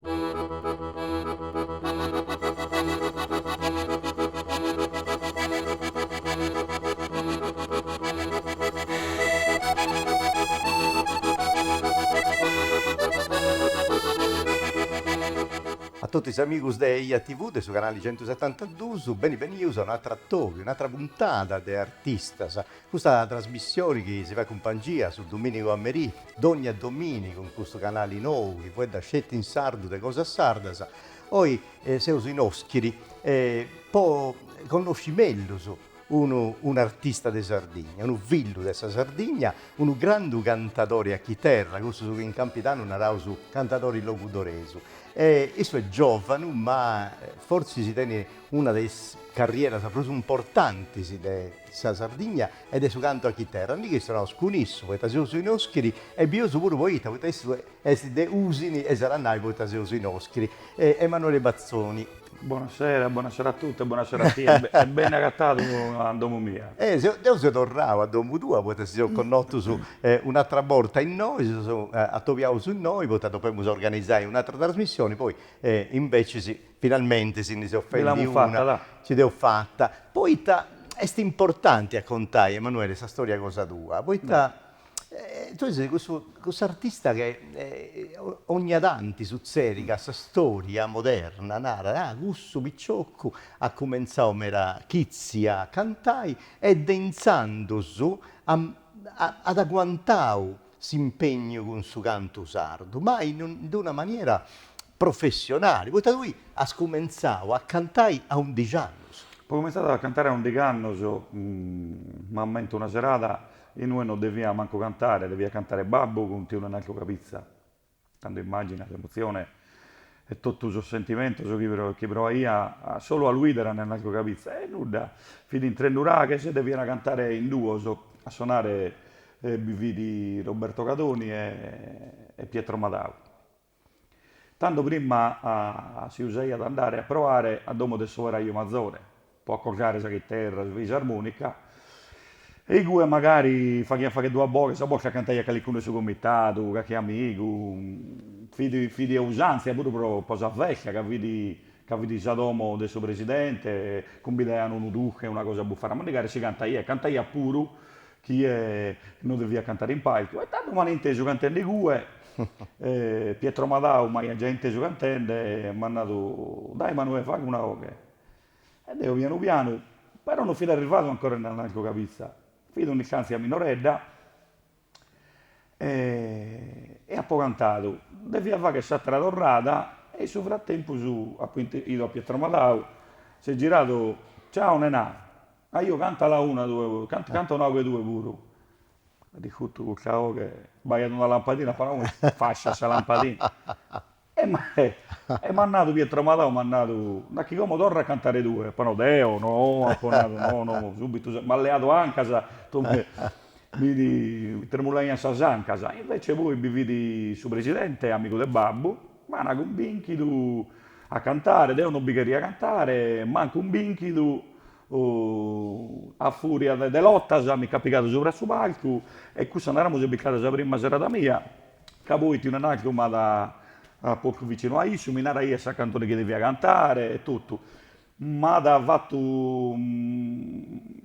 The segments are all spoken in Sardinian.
A totu is amigus de Eja TV de su canali centusetantadus, beni benius a un'atru atòbiu, un'atra puntada de Artistas. Custa trasmissioni chi si fait cumpangia su domìnigu a merì, dònnia domìnigu in custu canali nou chi fueddat sceti in sardu de cosas sardas, oi seus in Oschiri po connosci mellus unu un'artista de Sardigna, unu fillu de sa Sardigna, unu grandu cantadori a chiterra, cussu su chi in campidanu naraus cantadori logudoresu. Issu est giòvanu ma fortzis tenit una de is carrieras prus importantis de sa Sardigna e de su cantu a chiterra, ndi chistionaus cun issu, poita seus in Oschiri, e bieus puru poita, poita issu est de Usini e s'at a nai poita seus in Oschiri. Emanuele Bazzoni. Bona sera, bona sera a totu e bona sera a tie e bene agatadu a domo mia. Deu seu torrau a domu tua poita si seus connotus un'atra borta innoi, si seus atobiaus innoi poita depemus organizai un'atra trasmissioni, poi imbecis Finalmente si ndi seus fendi una, si dd'eus fata, poita est importanti a contai, Emanuele, sa storia cosa tua, poita tui ses cussu, cussu artista chi 'ònnia tanti sutzedit ca sa storia moderna narat, ah, cussu piciocu at cumentzau meda chitzi a cantai e de intzandus at aguantau s'impegnu cun su cantu sardu, ma in una maniera professionali, poita tui as cumentzau a cantai a undixi annus. Apo cumintzadu a cantare a ùndighi annos, m'ammento una serada inue no devia mancu cantare, deviat cantare babbu cun tiu Nenaldu Cabizza, tando immagina s'emozione e totu sos sentimentus chi proaia solu a lu 'idere a Nenaldu Cabizza, e nudda, fit in Tresnuraghes e devian cantare in duos, a sonare bi fit Roberto Cadoni e Pietro Madau. Tando prima si usaiat andare a proare a domo de s'oberaju mazore, pro accordare sa chiterra, sa fisarmonica, e igue magari faghiant fagher duas boghes, a bortas cantaiat calicunu 'e su comitadu, calchi amigu, fit fit usàntzia puru pro pro sa festa, ca fit ca fit sa domo de su presidente, cumbidaian unu durche, una cosa a bufare a mandigare e si cantaiat, cantaiat puru chi non devia cantare in palcu, e tando m'an intesu cantende igue, Pietro Madau m'aiat giai intesu cantende e m'at nadu, dai Manuè faghe una 'oghe, e deo pianu pianu, però no fit arrivadu ancora Nenaldu Cabizza, fit un'istantzia minoredda, e apo cantadu, devia fagher s'attera torrada, e in su frattempus apo 'idu a Pietro Madau, s'est giradu, ciao Nenà, Ajò cantala una tue puru, canta una 'oghe tue puru. Di custu custa 'oghe b'aiat una lampadina, apo nau, isfasciat sa lampadina. E m'at nadu, Pietro Madau m'at nadu, dai chi como torra a cantare tue? Apo nau, deo? No, apo nadu, no, no, subitu m'at leadu ancas, mi tremulaiant sas ancas. Invece poi bi fit su presidente, amigu de babbu. M'ana cumbìnchidu a cantare, deo non bi cheria cantare, m'an cumbìnchidu, a fùria de lotas mi ch'at pigadu subra su palcu e cussa naremus est bistada sa prima serada mia, ca poi tiu Nenaldu m'at postu vicinu a issu, mi naraiat sa cantone chi devia cantare e totu. m'at fatu,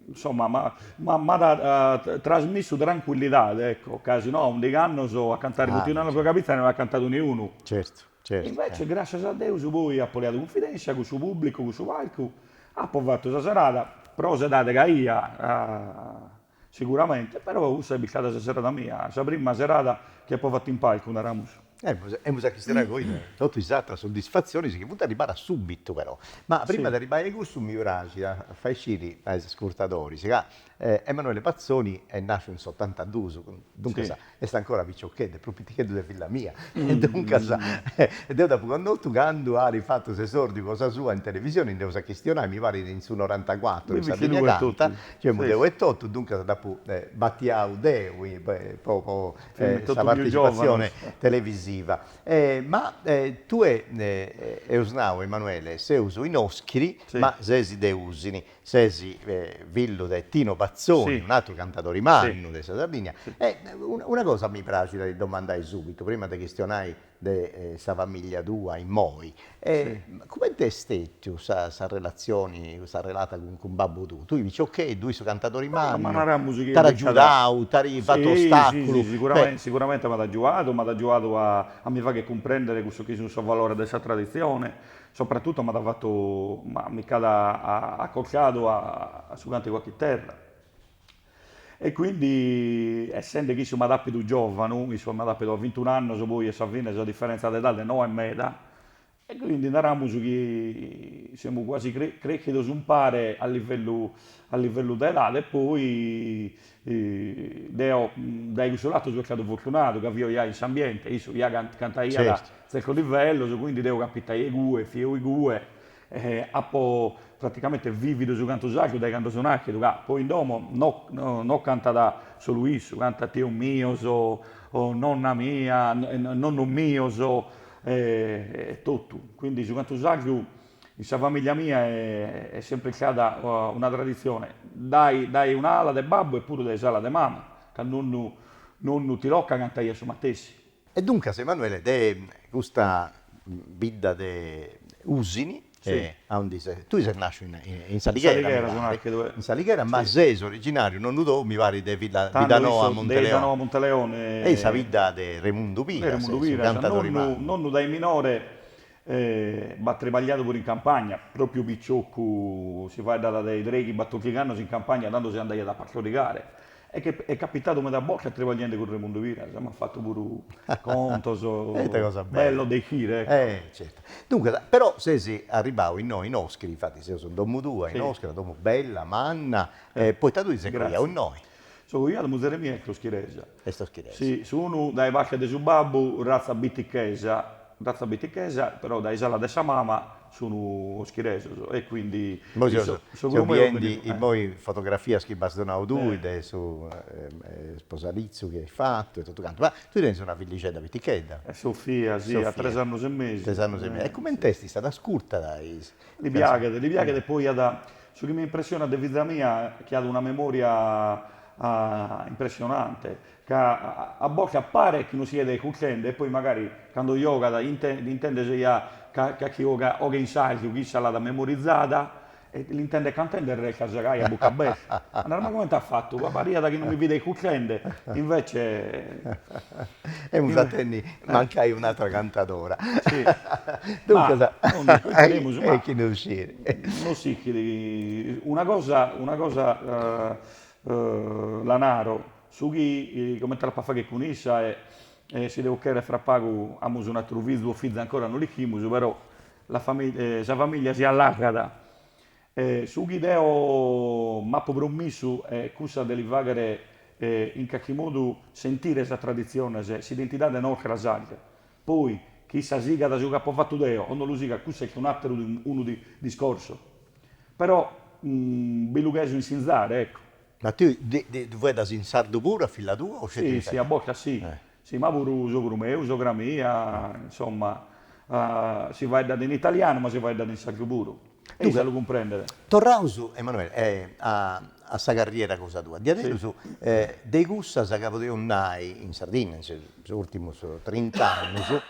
insoma, m'at trasmissu trancuillidade, ecco, ca si no a ùndighi annos a cantare cun tiu Nenaldu Cabizza no at cantadu niunu. Certu, certu. Invece, gràssias a Deus, poi apo leadu cunfidèntzia cun su pùblicu, cun su palcu, apo fatu sa serada, pro s'edade chi aia, Siguramente, però cussa est bistada sa serada mia, sa prima serada chi apo fatu in palcu, naramus. Emus, emus a chistionai poi de totu is atras soddisfatzionis chi funt arribadas subitu però. Ma prima de arribai a cussu mi praxit a fai sciri a is ascurtadoris ca Emanuele Bazzoni est nasciu in s'otantadus, duncas Est ancora piciocheddu, prus piticheddu de filla mia, e duncas, e deu dd'apu connotu candu at fatu s'esòrdiu cosa sua in televisioni, nd'eus a chistionai, mi parit in su norantacuatru, in Sardigna Canta, ci femu deu etotu, duncas dd'apu batiau deu po po sa partecipatzioni televisiva. Ma tue eus nau, Emanuele, seus in Oschiri, ma ses de Usini, Ses fillu de Tino Bazzoni, un'atru cantadori mannu de sa Sardigna. Una cosa mi praxit a ti domandai subitu, prima de chistionai de sa familia tua immoi, cumenti est stetiu sa sa relatzioni, sa relata cun babbu tuu? Tui piciocheddu, issu cantadori mannu, t'at agiudau, t'at fatu ostaculu? Si si si, siguramente m'at agiuadu, m'at agiuadu a mi fagher cumprendere cussu chi sunt sos valores de sa traditzioni, Sopratutu m'at fatu, mi ch'at acostadu a su cantigu a chiterra e quindi essende chi issu m'at apidu giovanu, issu m'at apidu a vintiunu annos, poi a sa fine sa differenza de edade no est meda e quindi naramus chi semus cuasi creschidos umpare a livellu a livellu de edade e poi Deo dae cussu latu so istadu fortunadu ca fio ja in s'ambiente, issu ja cantaiat a tzertos livellos, quindi deo capitaio igue, fio igue, apo praticamente vividu su cantu sardu dae cando so nàschidu, ca poi in domo no cantat solu issu, cantat tios mios, nonna mia, nonnos mios e totu, quindi su cantu sardu In sa famìllia mia est sempr'istada una traditzione, dae dae un'ala de babbu e puru dae s'ala de mama, ca nonnu nonnu Tilocca cantaiat su matessi. E duncas Emanuele de custa bidda de Usini e aundi ses, tui ses nàsciu in in S'Alighera mi pari, in S'Alighera ma ses originàriu nonnu tou mi parit de Villa Biddanoa Monteleone e in sa bidda de Remundu Piras, su cantadori mannu. Nonnu dae minore E b'at tribagliadu puru in campagna, pròpiu piciocu, si faeddat de treghi batòrdighi annos in campagna tando si andaiat a pastorigare e che est capitadu meda bortas tribagliendi cun Remundu Piras, m'at fatu puru contos bellos de chire, ecco. Duncas, però ses arribau innoi in Oschiri, infati seus in domu tua, in Oschiri, una domu bella, manna, poita tui ses coiau innoi. So coiadu, muzere mia est oschiresa. est oschiresa. Si, sunu dae parte de su babbu ratza bitichesa, ratza bitichesa, però dae s'ala de sa mama sun oschiresos e quindi Seu biendi immoi fotografias chi m'as donau tui de su sposalitzu chi ais fatu e totu cantu, ma tui tenis una fillixedda pitichedda. Sofia, si, at tres annus e mesu. Tres annus e mesu. E cument'est istada? Ascurtada is. Li piaghet, li piaghet e poi at Su chi mi impressionat de fiza mia chi at una memoria impressionante, ca a bortas paret chi no siat iscultende e poi magari cando giogat l'intendes ja calchi 'oghe in sardu chi issa l'at memorizada e l'intendes cantende e restas gai a buca aberta e naras ma comente at fatu, pariat chi no mi fit iscultende e invece Emus a tenni mancai un'atra cantadora. Duncas. No s'ischit una cosa una cosa la naro, su chi comente l'apo a fagher cun issa e e si Deu cheret fra pagu amus un'atteru fizu o fiza ancora no l'ischimus però la sa famiglia si allargat e su chi deo m'apo promissu est cussa de li fagher e in calchi modu sentire sas tradiziones, s'identidade nostra sarda Poi, chi issa sigat su chi apo fatu deo o no lu sigat cussa est un'àteru unu discorsu. Però, bi lu cheso insinzare, ecco. Ma tui ddu faeddas in sardu puru a filla tua o sceti in italianu? Si, si, a bortas si. Si, ma puru sogru meu, sogra mia, insomma, si faeddat in italianu, ma si faeddat in sardu puru. a lu cumprendere. Torraus, Emanuele, a sa carriera cosa tua. Diaderus de cussas ca podeus nai, in Sardinna, in sos urtimus trint'annus,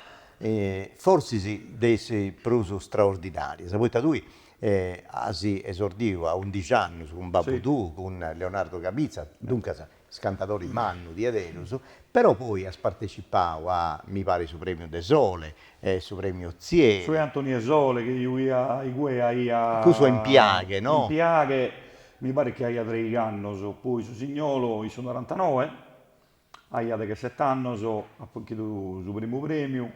forsis de is prus straordinarias, poita tui as esordiu a undix'annus cun babbu tuu, cun Leonardo Cabizza, duncas scantadori mannu diederus, però poi as partecipau a, mi parit su Premiu de Sole, su Premiu Ozieri. Su Antoni 'e Sole chi igue aia. Cussu est in Piaghe, no? In Piaghe, mi parit chi aia treigh'annus, poi su signolu in su norantanoe, aia degheset'annus, apu 'inchidu su primu premiu.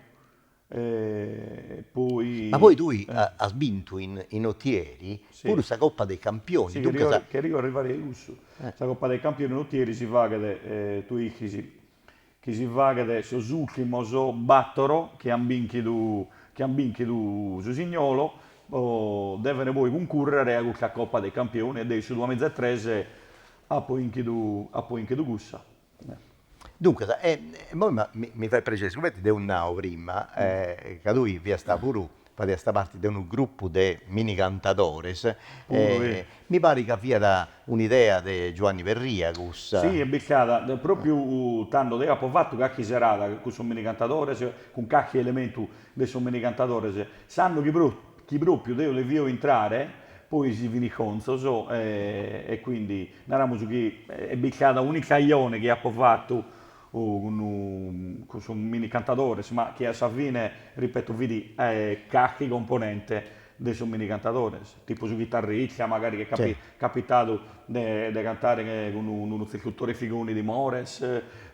Ma poi tui as bintu in Otieri puru sa Coppa dei Campioni, duncas. Si, cherìu arrivai a cussu. Sa Coppa dei Campioni in Otieri si faghet, tui ischis chi si faghet sos ùrtimos bàtoro chi ant bìnchidu, chi ant bìnchidu su signolo, devent poi cuncùrrere a custa Coppa dei Campioni e deo in su duamìgia e trese apo inchidu, apo inchidu cussa. Duncas, e immoi mi fait prexeri, sigumenti deu nau prima, ca tui fiasta puru, fadiasta parti de unu grupu de mini cantadores, mi parit ca fiat un'idea de Giuanni Perria cussa. Si, est bicada propriu tando, deu apu fatu carchi serada cun sos mini cantadores, cun carchi elementu de sos mini cantadores, s'annu chi propriu deu devio intrare, poi si fin isconzos e quindi Naramus chi est bicada un'ocajone chi apo fatu cun sos mini cantadores, ma chi a sa fine, ripeto, fit carchi componente de sos mini cantadores, tipu su chitarrista, magari chi est capitadu de cantare cun Sarvadore Figoni de Mores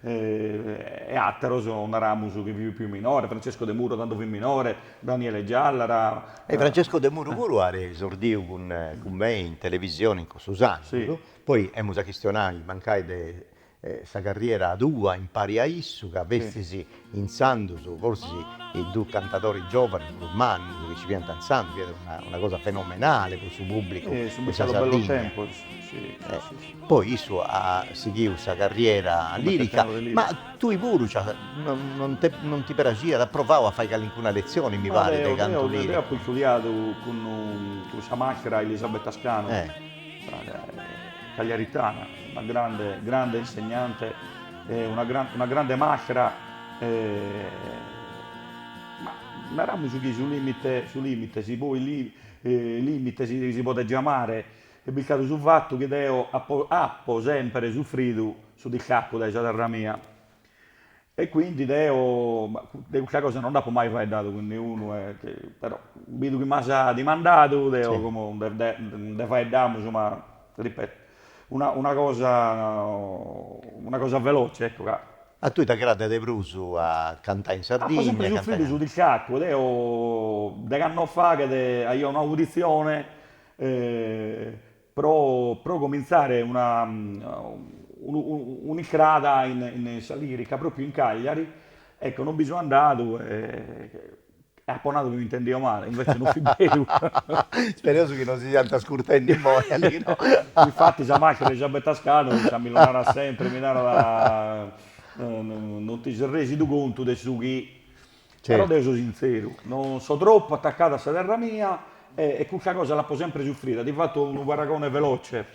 e ateros, naramus, chi fiant pius minores, Francesco Demuro tando fit minore Daniele Giallara. E Francesco Demuru puru at esordiu cun mei in televisione in cussus annus, poi emus a chistionai mancai de sa carriera tua impari a issu ca festis intzandus forsis is dus cantadori giovanis prus mannus chi nci fiant intzandus, fiat una cosa fenomenale po su pubblicu de sa Sardigna. Poi issu at sighiu sa carriera lirica, ma Tui puru ca non ti praxiat, as provau a fai calincuna letzioni, mi parit, de cantu liricu? Ma deu, deu apu istudiadu cun sa màstera Elisabetta Scano, cagliaritana, una grande, grande insegnante, una grande, una grande màstera, ma naramus chi su lìmite, su lìmite, si poi lìmite si podet giamare, est bistadu su fatu chi deo apo apo sempre sufridu su distacu dae sa terra mia e quindi deo de custa cosa non nd'apo mai faeddadu cun niunu e però bidu chi m'as dimandadu deo como nde faeddamus ma ripeto una una cosa una cosa veloce ecco ca A tui t'agradat de prus a cantai in Sardigna? Apo sempre sufridu su distacu deo deghe annos faghet aio un'auditzione pro pro comintzare una un'istrada in in sa lirica propriu in Cagliari, ecco non bi so andadu e apo nadu chi mi intendio male, invece non fit beru Ispereus chi non si siant ascurtendi imoi Alino Infatti sa maestra Elisabetta Scano issa mi lu narat sempre, mi narat non ti ses residu contu de su chi Però deo so sintzeru, no so tropu atacadu a sa terra mia e custa cosa l'apo sempre sufrida, ti fato unu paragone veloce,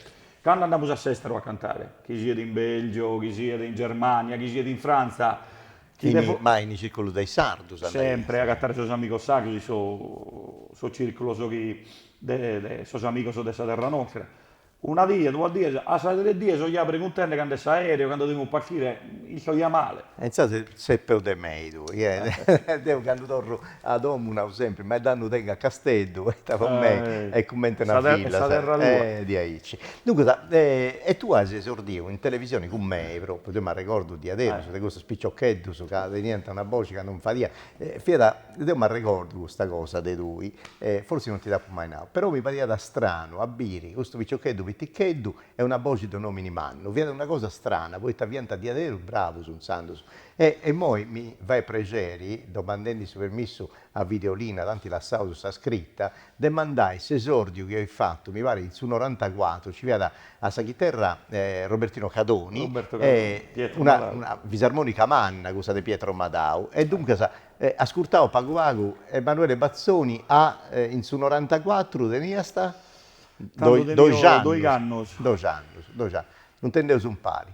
cando andamus a s'esteru a cantare, chi siat in Belgio, chi siat in Germania, chi siat in Frantza, chi depo, ma in is circulus de is sardus andaiat, sempre a agatare sos amigos sardos in sos circulos chi de sos amigos de sa terra nostra, Una die, duas dies, a sas tres dies so ja preguntende cand'est s'aereo, cando demus partire, isto ja male. E insaras ses peus de mei tui, deu candu torru a domu nau sempri, ma e tando tengu a Casteddu, e ita po mei est cumente una filla, sa terra tua, est diaici. Duncas, e tue as esordiu in televisione cun mei, propriu, deo m'arregordu diaderus de custus piciocheddus ca teniant una boxi ca non fadiat Fiat, deu m'arregordu custa cosa de tui, e forsis non ti dd'apu mai nau, però mi pariat stranu a biri custu piciocheddu piticheddu e una boxi de un'omini mannu, fiat una cosa strana, poita fiant diaderus bravus intzandus. E immoi mi fait prexeri, domandendi su permissu a Videolina, tanti lassaus sa scritta, de mandai s'esòrdiu chi as fatu, mi parit in su norantacuatru, nci fiat a sa chiterra Robertino Cadoni e una fisarmònica manna, cussa de Pietro Madau, e duncas ascurtaus pagu pagu Emanuele Bazzoni a, in su norantacuatru teniast doxi annus, doxi annus, doxi annus, doxi annus, no, intendeus umpari.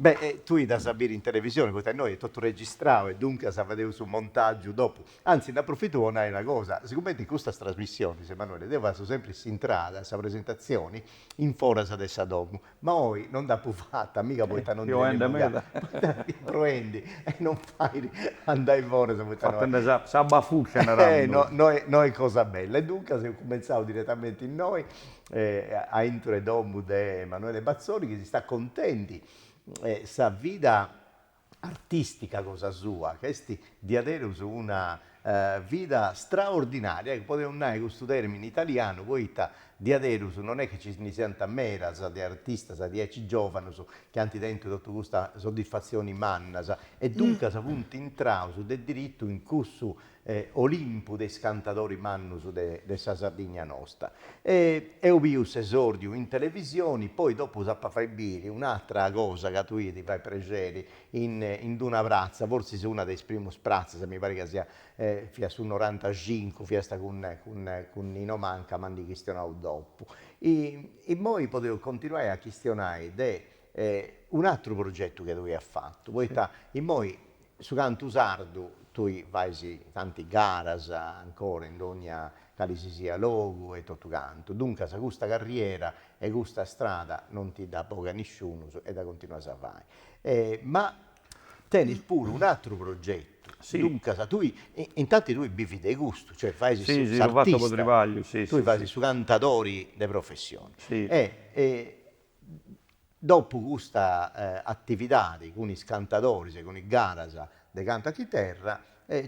Beh, e tui dd'as a biri in televisioni, poita innoi est totu registrau e duncas fadeus su montàgiu dopu. Antzis, nd'aprofitu po nai una cosa, sigumenti in custas trasmissionis, Emanuele, deu fatzu sempri s'intrada, sa presentatzioni, in foras de sa domu, Ma oi no nd'apu fata, miga poita no ndi tenia meda, poita fia proendi e non fait andai foras poita no est. Fatende sa sa bafuccia naraus. Eh, no no est cosa bella. E duncas eus cumenzau diretamenti innoi, aintru 'e domu de Emanuele Bazzoni chi s'istat contendi sa vida artìstica cosa sua, ca est diaderus una vida straordinària, e podeus nai cussu tèrmini italianu poita diaderus non est chi nci ndi siant medas de artistas diaici giòvanus chi ant tentu totu custas soddisfatzioni mannas e duncas funt intraus de diritu in cussu Olimpu de is cantadoris mannus de sa Sardigna nosta. Eus biu s'esòrdiu in televisioni, poi dopu s'ap'a fai biri un'atra cosa ca tui ti fait prexeri in d'una pratza, fortzis una de is primus pratzas, mi parit ca sia, fiat su norantacincu, fiast cun cun Nino Manca, ma ndi chistionaus dopu. Immoi podeus continuai a chistionai de un'atru progetu chi tui as fatu, poita immoi Su cantu sardu, tui fais tanti garas ancora in dogna cali si siat logu e totu cantu, duncas custa carriera e custa strada non ti dda bogat nisciunus e dda continuas a fai. Ma tenis puru un'atru progetu, duncas tui, intanti tui bivis de custu, cioè fais s'artista, tui fais su cantadori de professioni e Dopu custa atividadi cun is cantadoris e cun is garas de cantu a chiterra,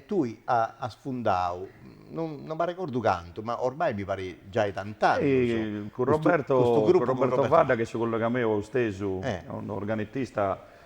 tui as fundau, no m'arregordu cantu, ma ormai mi parit giai tant'annus, custu gruppu cun Roberto Fadda. Cun Roberto Fadda, chi est su collega meu, est isse un organetista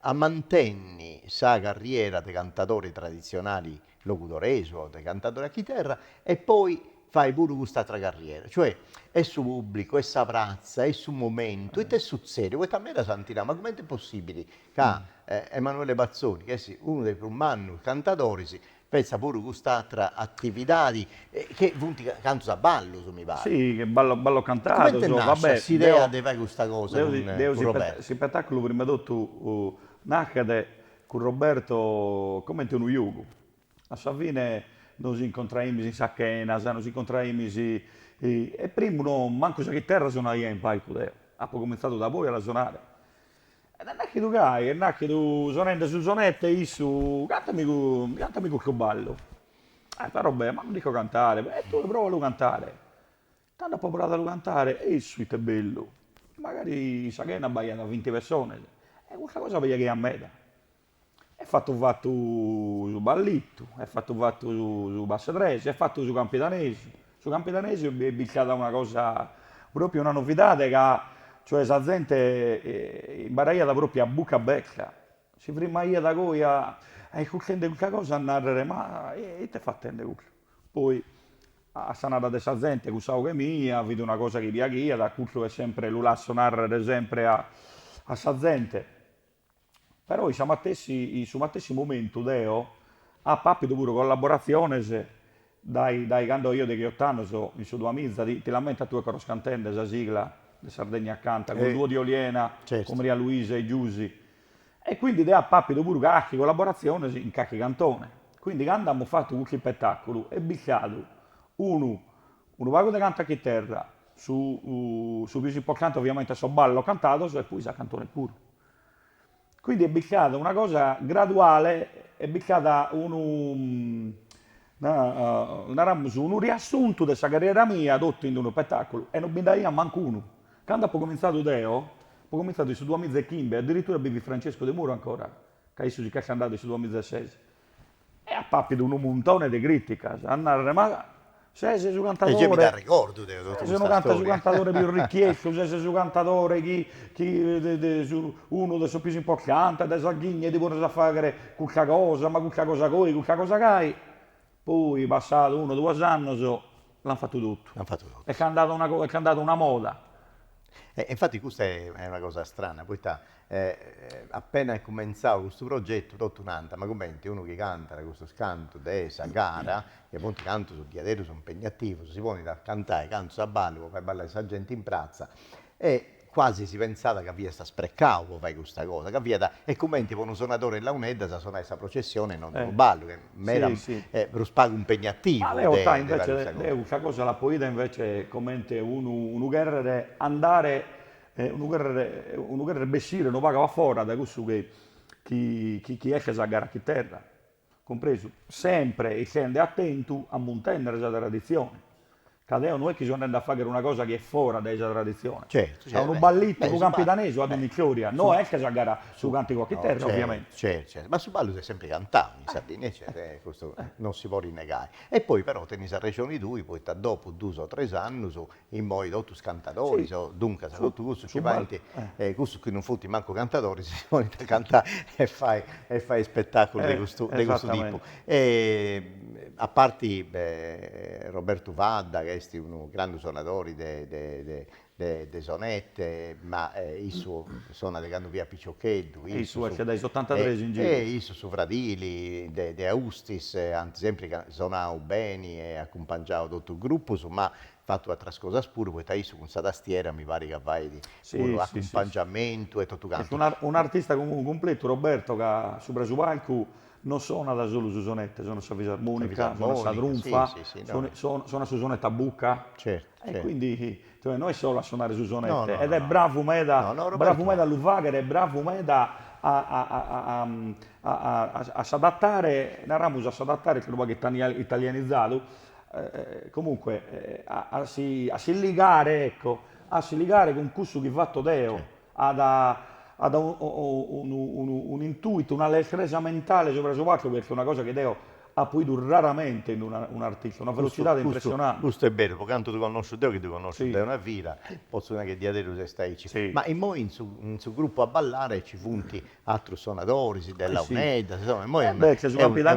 a mantenni sa carriera de cantadori tradizionali logudoresu o de cantadori a chiterra e poi fai puru cust'atra carriera. Cioè, est su pubblicu, est sa pratza, est su momentu, ita est sutzediu? Poita medas ant nau, ma cumenti est possibili ca Emanuele Bazzoni, chi est unu de is prus mannus cantadoris, Fetzat puru cust'atra atividadi, ca funt cantus a ballus, mi parit. Si, ballus ballus cantados. E cumenti nascit s'idea de fai custa cosa cun Roberto? S'ispetaculu prima 'e totu naschet cun Roberto comenti unu giogu. A sa fine nos incontraimis in sas chenas, nos incontraimis e primu no, mancu sa chiterra sonaia in palcu deo. Apo cumintzadu da poi a la sonare. Ed est naschidu gai, est naschidu sonende su sonette e issu, Cantami cantami custu ballu. E però bè, ma no l'isco cantare. Bè, e tue prova a lu cantare. Tando apo provadu a lu cantare e issu ite bellu. Magari sa chena b'aiat vinti pessones e custa cosa piaghiat a meda. Est fatu fatu su ballitu, est fatu fatu su passu 'e trese, est fatu su campidanesu, su campidanesu est bistada una cosa propriu una novidade ca cioè sa zente imbaraiat propriu a bucca aberta, si frimmaiat goi aiscultende custa cosa a narrer ma ite fatende custu, poi a sa narra de sa zente cussa 'oghe mia fit una cosa chi piaghiat, custu est sempre lu lasso narrer sempre a sa zente Però in sa matessi in su matessi momentu deo apo apidu puru collaboratziones dae dae cando aio degheoto annos in su Duamiza, ti ti l'ammentas tue Coros Cantende, sa sigla de Sardegna Canta, cun Duo Di Oliena, cun Maria Luisa e Giusy, e quindi deo apo apidu puru carchi collaboratzione in carchi cantone, quindi cando amus fatu custu ispetaculu est bistadu unu unu pagu de cantu a chiterra Su su pius importante oviamente est sos ballos cantados e poi sa cantone puru. Quindi est bistada una cosa graduale, est bistada unu naramos unu riassuntu de sa carriera mia totu in unu ispetaculu e non bi nd'aiat mancu unu. Cando apo comintzadu deo, apo comintzadu in su duamiza e chimbe, addirittura bi fit Francesco Demuro ancora, ca issu si ch'est andadu in su duamiza e ses. E apo apidu unu muntone de criticas, a narrer, ma ses su cantadore, Eja mi t'arregordu deo totu custa storia, ses su cantadore pius richiestu, ses su cantadore chi chi unu de sos pius importantes de Sardigna e ti pones a fagher custa cosa, ma custa cosa goi, custa cosa gai, poi passadu unu duos annos, L'an fatu totu. L'an fatu totu. Est andada una cosa, est andada una moda. E infati custa est una cosa strana, poita appena est cumentzau custu progetu totu nant, ma cumenti unu chi cantat custus cantus de sa gara, chi funt cantus diaderus impegnativus, si ponit a cantai cantus a ballu po fai ballai sa genti in pratza e Cuasi si pensat ca fiast sprecau po fai custa cosa, ca fiat e cumenti po unu sonadori 'e launeddas sonai sa processioni non unu ballu, ch'est meda prus pagu impegnativu. Deo custa cosa l'apo 'ida invece comente unu unu cherrere andare unu cherrere unu cherrere bessire unu pagu a fora dae cussu chi chi chi est sa gara a chiterra. cumpresu, sempre essende atentu a muntennere sa traditzione, ca deo no est chi so andende a faghere una cosa chi est fora dae sa traditzione, ca unu ballitu, unu campidanesu at un'istòria, no est sa gara, su càntigu a chiterra, ovviamente. Certu, certu, ma su ballu s'est sempre cantadu in Sardigna, certu, custu non si podit negai, e poi però tenis arrexoni tui, poita dopu duus o tres annus Immoi totus is cantadoris, o duncas totu cussus chi faint, cussus chi non funt mancu cantadoris si ponint a cantai e fai e fai ispetaculu de custu de custu tipu. A parti Robertu Fadda ca est unu grandu sonadori de de de de sonette, ma issu sonat de candu fiat piciocheddu, e issu faghiat dae is annus otantatres in giru, e issu su fradili de de Austis ant sempri sonau beni e acumpangiau totus is grupus, ma fatu atras cosas puru, poita issu cun sa tastiera mi parit ca fait puru acumpangiamentu e totu cantu. Est un'artista comunque cumpletu Roberto ca subra su palcu non sonat solu su sonette, sonat sa fisarmonica, sonat sa trunfa, sonat su sonette a bucca e quindi no est solu a sonare su sonette ed est bravu meda, bravu meda a lu faghere e bravu meda a s'adattare, naramus a s'adattare, unu pagu italianizadu, comunque a si ligare ecco a si ligare cun cussu chi fatto deo at at unu intuito una lestresa mentale subra su palcu perché est una cosa chi deo apo idu raramente in unu artista una velocitade impressionante. Custu est beru pro cantu ddu connosciu deo chi ddu connosciu de una vida potzu nai chi diaderus est aici ma immoi in su gruppu a ballare ci funt Atrus sonadoris de Launeddas, insoma, immoi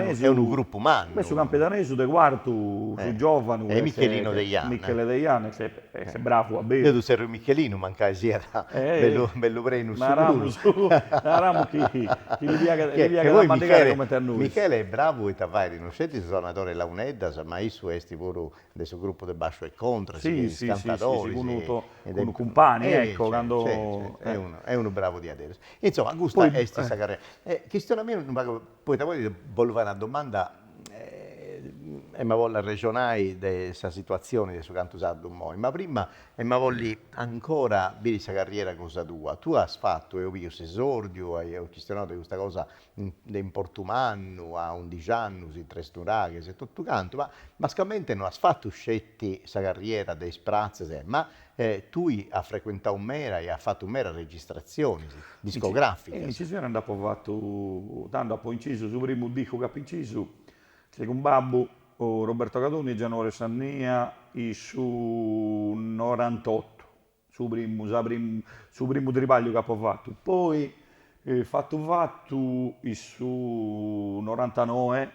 est unu grupu mannu. Beh, su campidanesu de Cuartu, su giovanu, est Michelino Deiana. Michele Deiana, est bravu a beru. Deu ddu zerriu Michelinu, mancai siat bellu prenu issu puru. Naramus chi li piaghet a mandigare cumenti a nois. Michele est bravu poita fait, non sceti su sonadori 'e Launeddas, ma issu est puru de su gruppu de Basciu e Contra, si chei, is cantadoris, acumpangiat, ecco, cando, est unu bravu diaderus. Insoma, custa est sa carriera. E chistiona·mì unu pagu, poita poi ti bollu fai una domanda emu a bolli arrexonai de sa situazioni de su cantu sardu immoi, ma prima emu a bolli ancora biri sa carriera cosa tua. Tui as fatu, eus biu s'esordiu, eus chistionau de custa cosa de importu mannu, a undixi annus in Tresnuraghes e totu cantu, ma nascamente no as fatu sceti sa carriera de is pratzes, ma tui as frecuentau meda e as fatu medas registratzionis discograficas. Incisiones nd'apu fatu tantas, apu incisu su primu discu chi apu incisu est cun babbu, Roberto Cadoni e Gianuario Sannia, in su norantottu, Su primu, sa primu, su primu tribagliu ch'apo fatu, poi fatu fatu in su norantanoe,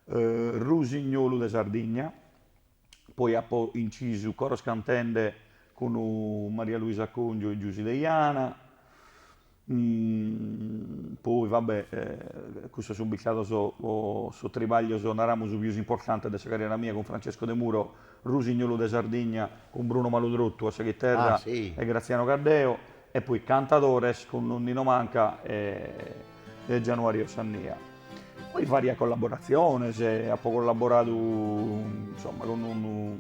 Rusignolu de Sardigna, poi apo incisu Coros Cantende cun Maria Luisa Congiu e Giusy Deiana, Poi va be', custos sun bistados sos tribaglios, naramus, pius importantes de sa carriera mia, cun Francesco Demuro, Rusignolu de Sardigna, cun Bruno Maludrottu a sa chiterra e Graziano Caddeo, e poi cantadores cun Nino Manca e Gianuario Sannia. Poi varias collaboratziones, apo collaboradu insomma cun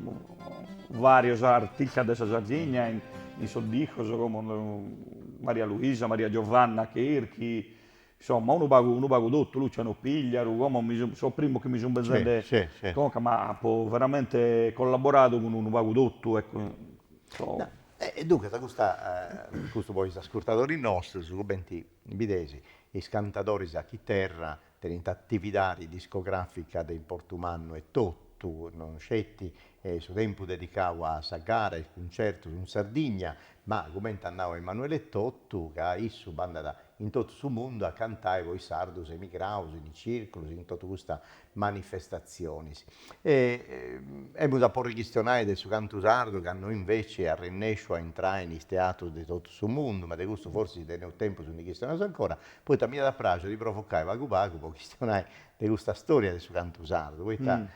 varios artistas de sa Sardigna in sos discos como Maria Luisa, Maria Giovanna Cherchi, insomma unu pagu unu pagu totu, Luciano Pigliaru, como mi sun sos primos chi mi sun benzende conca, ma apo veramente collaboradu cun unu pagu totu ecco. E duncas custa custu po is ascurtadoris nostros cumenti Bides, is cantadoris a chiterra tenint atividadi discogràfica de importu mannu etotu, non sceti su tempus dedicau a sa gara e is cuncertus in Sardigna, ma, cumenti at nau Emanuele etotu, ca issu bandat in totu su mundu a cantai po is sardus emigraus in is circulus, in totu custas manifestatzionis. E emus a podi chistionai de su cantu sardu ca no inveci at rennesciu a intrai in is teatrus de totu su mundu, ma de custu forsis teneus tempus ndi chistionaus ancora, poita m'iat a praxiri de provucai pagu pagu po chistionai de custa storia de su cantu sardu, poita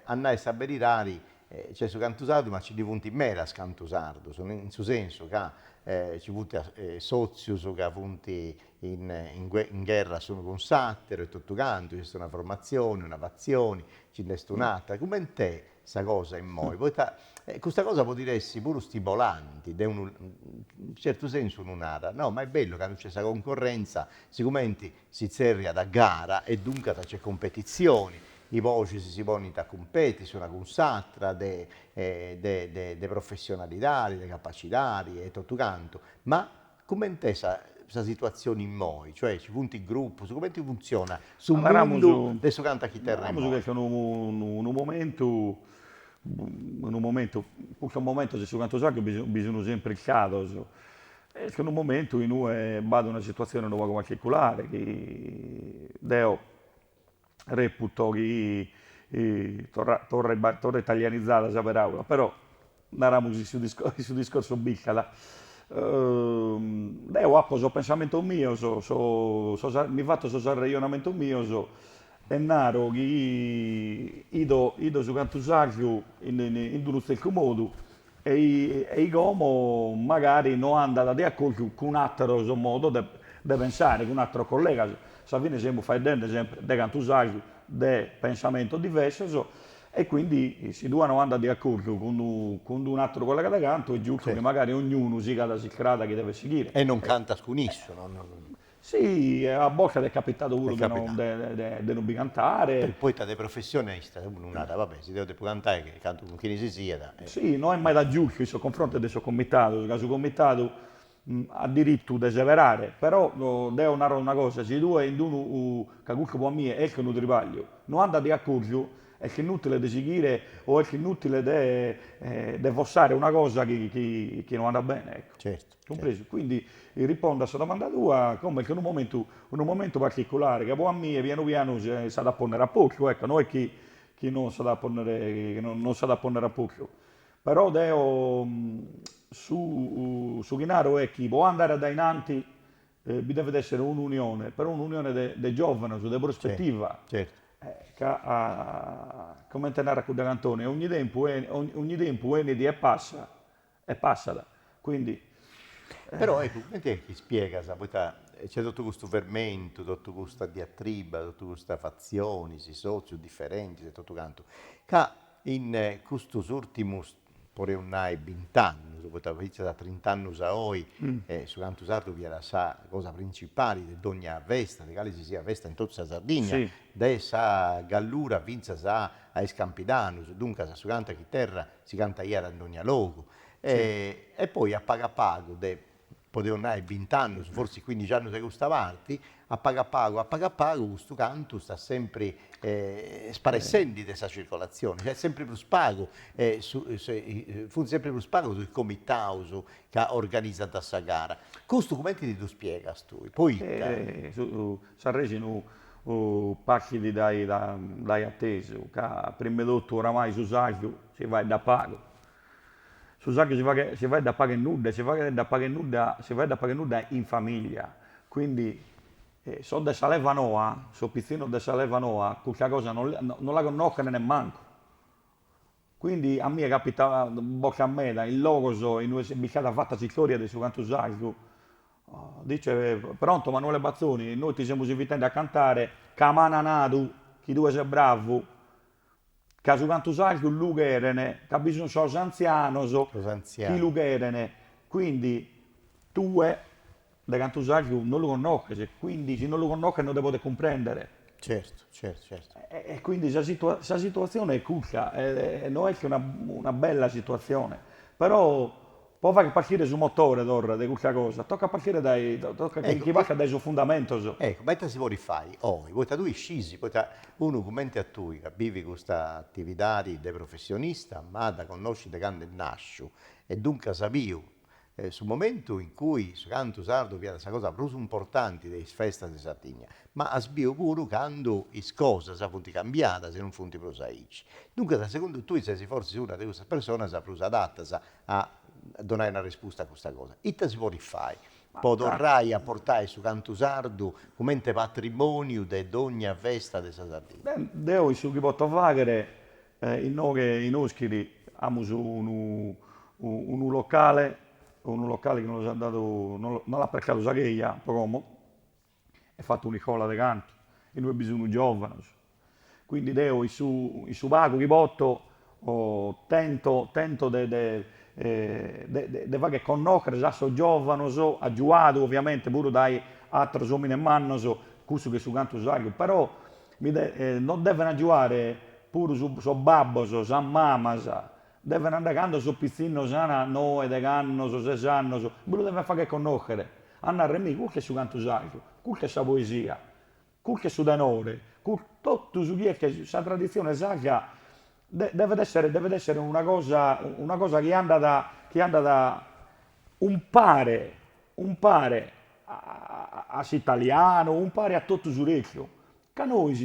a nai sa beridadi nc'est su cantu sardu ma nci ndi funt medas cantus sardus, in su sensu ca nci funt sotzius ca funt in gherra s'unu cun s'àteru e totu cantu nc'est una formatzioni, una fatzioni, nci nd'est un'àtera, cumenti est sa cosa immoi, poita custa cosa podit essi puru stimolanti, de unu certu sensu unu narat, no, ma est bellu candu nc'est sa concorrentza, sigumenti si tzerriat gara e duncas nc'est cumpetitzioni, is boxis si ponint a cumpeti s'una cun s'àtera de de de professionalidadi, de capacidadi e totu cantu, ma Cumenti est sa situatzione immoi? Cioè ci funt grupus, cumenti funtzionat su mundu de su cantu a chiterra immoi? Naramus chi est unu momentu, unu momentu, custos momentos in su cantu sardu bi sun sempri istados, est unu momentu in ue b'at una situatzione unu pagu particulare chi deo reputo chi torra italianizada sa peràula, però naramus chi su discorsu b'istat. Deo apo sos pensamentos mios, mi fatto sos arrejonamentos mios e naro chi 'ido 'ido su cantu sardu in unu tzertu modu ei como magari no andat de acordu cun àteros modos de de pensare, cun àteros collegas, sa fine semus faeddende semper de cantu sardu de pensamentos diversos e quindi si tue no andas de acordu cun cun unu àteru collega de cantu est giustu chi magari ognunu sigat s'istrada chi devet sighire. E non cantas cun issu. Si, a bortas est capitadu puru de non bi cantare. Poita de professionista unu narat, va bè, si deo depu cantai che cantu cun chini si siat. Si, no est meda giustu in sos confrontos de sos comitados, ca su comitadu at diritu de seberare, però deo naro una cosa, si tue in unu, ca custu po a mie est unu tribagliu, no andas de acordu, est inutile de sighire o est inutile de fortzare una cosa chi no andat bene, ecco. Certu. Cumpresu. Quindi, ripondu a sa domanda tua, como est unu momentu, unu momentu particulare, ca po a mie pianu pianu s'at a pònnere a postu, ecco, no est chi chi non s'at a pònnere, chi non s'at a pònnere a postu. Però deo su su chi naro est chi po andare a dae innanti bi devet èssere un'unione, però un'unione de de giòvanos, de prospetiva. Certu. Ca comente narat cudda cantone, ogni tempus 'enit e passat E passat, quindi. Però eccu, cumenti est chi spiegas, poita nc'est totu custu fermentu, totu custa diatriba, totu custas fatzionis, is sotzius diferentis e totu cantu, ca in custus urtimus, podeus nai, bint'annus, poita fintzas a trint'annus a oi, su cantu sardu fiat sa cosa principali de dogna festa, de cali si siat festa in totu sa Sardigna, dae sa Gallura fintzas a is Campidanus, duncas su cantu a chiterra Si cantaiat in dogna logu. E poi a pagu a pagu de, podeus nai, bint'annus, fortzis cuindixi annus de custa parti, a pagu a pagu, a pagu a pagu, custu cantu istat sempri sparessendi de sa circolatzioni, cioè sempri prus pagu funt sempri prus pagus is comitaus ca organizant sa gara. Custu cumenti ti ddu spiegas tui, poita? S'arresonu partit dae dae atesu ca prima 'e totu oramai su sardu si faeddat pagu, su sardu si faghet si faeddat pagu e nudda e si faeddat pagu e nudda si faeddat pagu e nudda in familia, quindi sos de sa leva noa, sos pitzinnos de sa leva noa custa cosa non la connochen nemmancu, Quindi a mie capitat bortas meda in logos inue est bistada fata s'istória de su cantu sardu. Dice, Pronto Manuele Bazzoni, nois ti semus invitende a cantare ca m'ana nadu chi tue ses bravu, ca su cantu sardu lu cheren, ca bi sun sos antzianos chi lu cheren, quindi tue De cantu sardu non lu connoches, quindi si non lu connoches non nde podes cumprèndere. Certu, certu, certu. E quindi sa sa situatzione est custa, e no est una una bella situatzione, però pro fagher partire su motore, torra, de custa cosa, tocat partire dae, tocat chi chi partat dae sos fundamentos. Ecco, ma ita si podit fai oi, poita tui iscis, poita unu cumenti a tui ca bivit custa atividadi de professionista, ma dda connoscit de candu est nàsciu e duncas as biu su momentu in cui su cantu sardu fiat sa cosa prus importanti de is festas de Sardigna, ma as biu puru candu is cosas funt cambiadas e non funt prus aici. Duncas, segundu tui ses fortzis una de custas personas prus adatas a donai una respusta a custa cosa. Ita si podit fai po torrai a portai su cantu sardu cumenti patrimoniu de dogna festa de sa Sardigna? Beh, deo in su chi poto faghere Inoghe in Oschiri amus unu unu locale, unu locale chi nos l'at dadu, nos l'at prestadu sa cheja pro como, e fato un'iscola de cantu, inue bi sun giovanos, quindi deo in su in su pagu chi poto tento tento de de de fagher connochere a sos giovanos, agiuadu ovviamente puru dae atteros omines mannos, cussu chi est su cantu sardu, però Mi nos deven agiuare puru sos babbos, sas mamas, deven andare cando sos pitzinnos an noe, deghe annos, ses annos, bi lu deven fagher connochere, a narrer, mi, custu est su cantu sardu, custa est sa poesia, custu est su tenore, totu su chi est sa traditzione sarda Devet essere devet essere una cosa una cosa chi andat chi andat umpare umpare a s'italianu, umpare a totu su restu, ca nois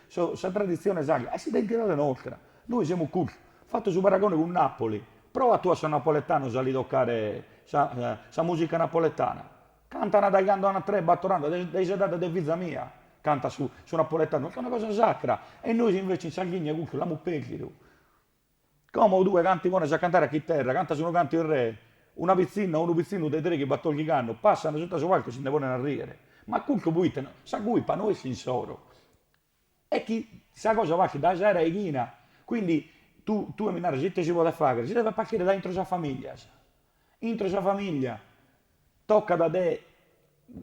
sa traditzione sarda est s'identidade nostra, nois semus custu, fatto su paragone cun Napoli, proa tue a sos napoletanos a li toccare sa musica napoletana Cantant dae cando an tres bator annos, dae s'edade de fiza mia cantat su su napoletanu, est una cosa sacra e nois invece in Sardigna custu l'amus perdidu. Como tue cando ti pones a cantare a chiterra, cantas unu cantu in re, una pitzinna o unu pitzinu de treighi batordighi annos passano sutta su palcu e si nde ponen a riere, ma custu pro ite no, sa culpa no est insoro Est chi sa cosa partit dae sa raighina. Quindi tue mi naras ite si podet faghere, si devet partire da intro sas familias, intro sa familia tocat de,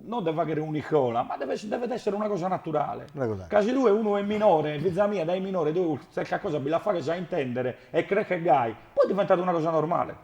non de faghere un'iscola, ma devet essere una cosa naturale, ca si tue unu est minore, fiza mia dai minore tue tzerta cosa bi la faghes a intendere e creschet gai, poi diventat una cosa normale.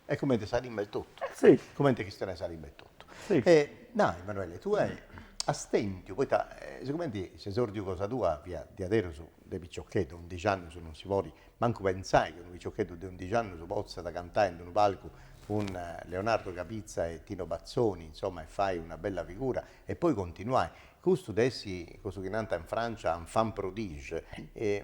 E comente sa limba est totu. E si. Comente chistione sa limba est totu. Si. E nai, Manuele, tue as tentiu, poita sigumenti s'esordiu cosa tua fiat diaderus de piciocheddu, a undixi annus non si podit mancu pentzai chi unu piciocheddu de undixi annus potzat cantai in d'unu palcu cun Leonardo Capizza e Tino Bazzoni, insomma, e fai una bella figura e poi continuai. Custu de essi, cussu chi nant in Francia, enfant prodige,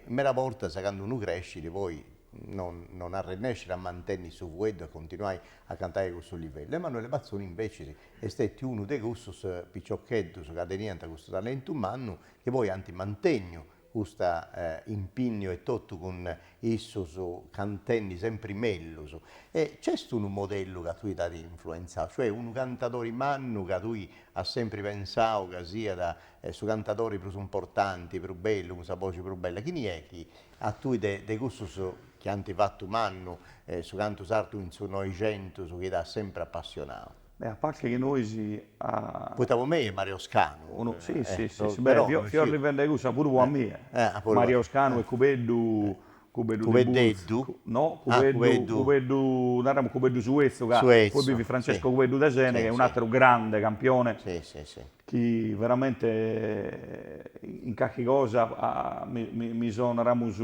meda bortas candu unu crescit poi non arrennescit a mantenni su fueddu e continuai a cantai a cussu livellu. Emanuele Bazzoni invecias est stetiu unu de cussus piciocheddus ca teniant custu talentu mannu chi poi ant mantenniu cust'impinniu etotu cun issus cantendi sempri mellus. E nc'est unu modellu ca a tui t'at influenzau, cioè unu cantadori mannu ca tui as sempri pensau ca siat su cantadori prus importanti, prus bellu, cun sa boxi prus bella, chini est chi A tui de de cussus chi ant fatu mannu su cantu sardu in su Noixentus chi t'at sempri apassionau. Beh, a parte chi nois a. Poita po mei est Mario Scanu. Unu, si, si, si, si, beh, fio arrivende cussu puru po a mie. Mario Scanu e Cubeddu, Cubeddu de Burtzu. Cubeddu? No, Cubeddu, Cubeddu, naramus Cubeddu su 'etzu ca poi bi fit Francesco Cubeddu de Seneghe, un'ateru grande campione. Si, si, si. chi veramente in carchi cosa mi so naramus